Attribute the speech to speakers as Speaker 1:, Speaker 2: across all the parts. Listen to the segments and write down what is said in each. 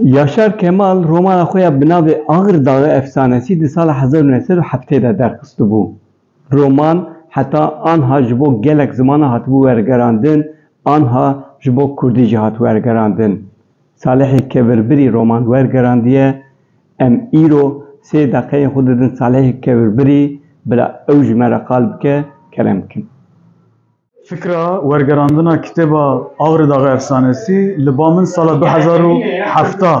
Speaker 1: Yaşar Kemal romana xwe ya bi navê Ağır Dağı Efsanesi di sala hezar û neh sed û heftê de derxistibû. Roman heta anha ji bo gelek zimanan hatibû wergerandin, anha ji bo kurdî jî hat wergerandin. Salihê Kevirbirî roman wergerandiye. Em îro sê deqeyên xwe didin Salihê Kevirbirî, bila ew ji me re qal bike, kerem bikin. Fikra wergerandina kitêba Avrê Daxê Efsanesî li ba min sala du hezar û hefta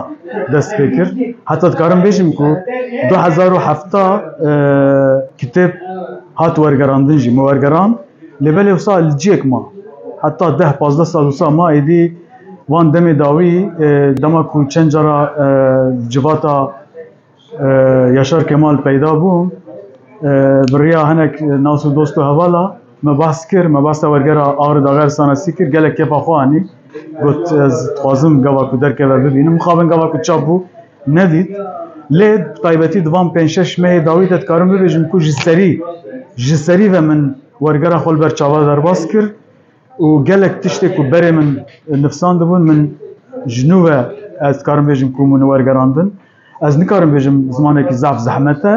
Speaker 1: dest pê kir. Heta dikarim bêjim ku du hezar û hefta kitêb hat wergerandin jî me wergerand lê belê wisa li ciyek ma. Heta deh pazdeh sal wisa ma êdî wan demê dawî dema ku çend cara civata Yaşar Kemal peyda bû, biriya hinek nas û dost û hevala me behs kir, me behsa wergera Agri Daxer Sanasî kir, gelek kefa xwe anî. Got ez dixwazim gava ku derkeve bibînim. Mixabin gava ku çap bû nedît. Lê bi taybetî di van pênc şeş mehê dawî de dikarim bibêjim ku ji serî ji serî ve min wergera xwe li ber çavan derbas kir. û gelek tiştê ku berê min nifsandibûn min ji nû ve ez dikarim bêjim ku min wergerandin. Ez nikarim bêjim zimanekî zaf zehmet e.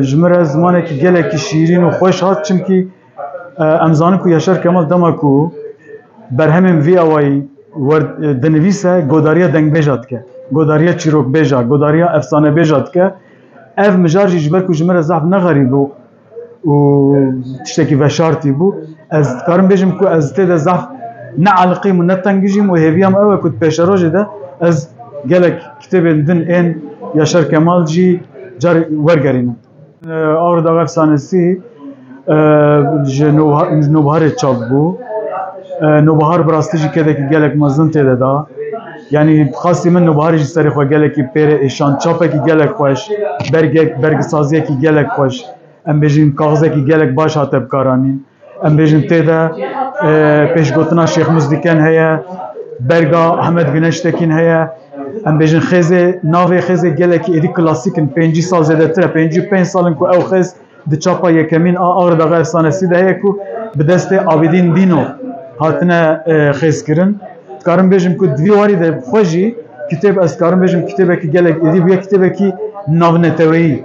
Speaker 1: Ji min re zimanekî gelekî şîrîn û xweş hat çimkî em zanin ku Yaşar Kemal dema ku berhemên vî awayî dinivîse godariya dengbêja dike, godariya çîrokbêja, godariya efsanebêja dike. Ev mijar jî ji ber ku ji min re zaf ne xerîb bû û tiştekî veşartî bû. Ez dikarim bêjim ku ez tê de zaf ne aliqîm û ne tengijîm û hêviya min ew e ku di pêşerojê de ez gelek kitêbên din ên Yaşar Kemal jî carî wergerînim. Ağrı Dağı Efsanesi ji nobiharê çap bû. Nobihar bi rastî jî kedekî gelek mezin tê de da. Yanî bi qasî min Nûbahar jî serê xwe gelekî pêre êşand, çapekî gelek xweş, bergek, bergisaziyekî gelek xweş, em bêjin kaxizekî gelek baş hate bikaranîn. Em bêjin tê de pêşgotina Şêx Muzdiken heye, berga Hemed Güneş Tekîn heye. Em bêjin xêzê, navê xêzê gelekî êdî klasîk in, pêncî sal zêdetir e, pêncî û pênc sal in ku ew xêz Di çapa yekemîn a Agirdaga Efsanesî de heye ku bi destê Abîdîn Dîno hatine xêzkirin. Dikarim bêjim ku di vî warî de xwe jî kitêb ez dikarim bêjim kitêbekî gelek êdî bûye, kitêbekî navneteweyî.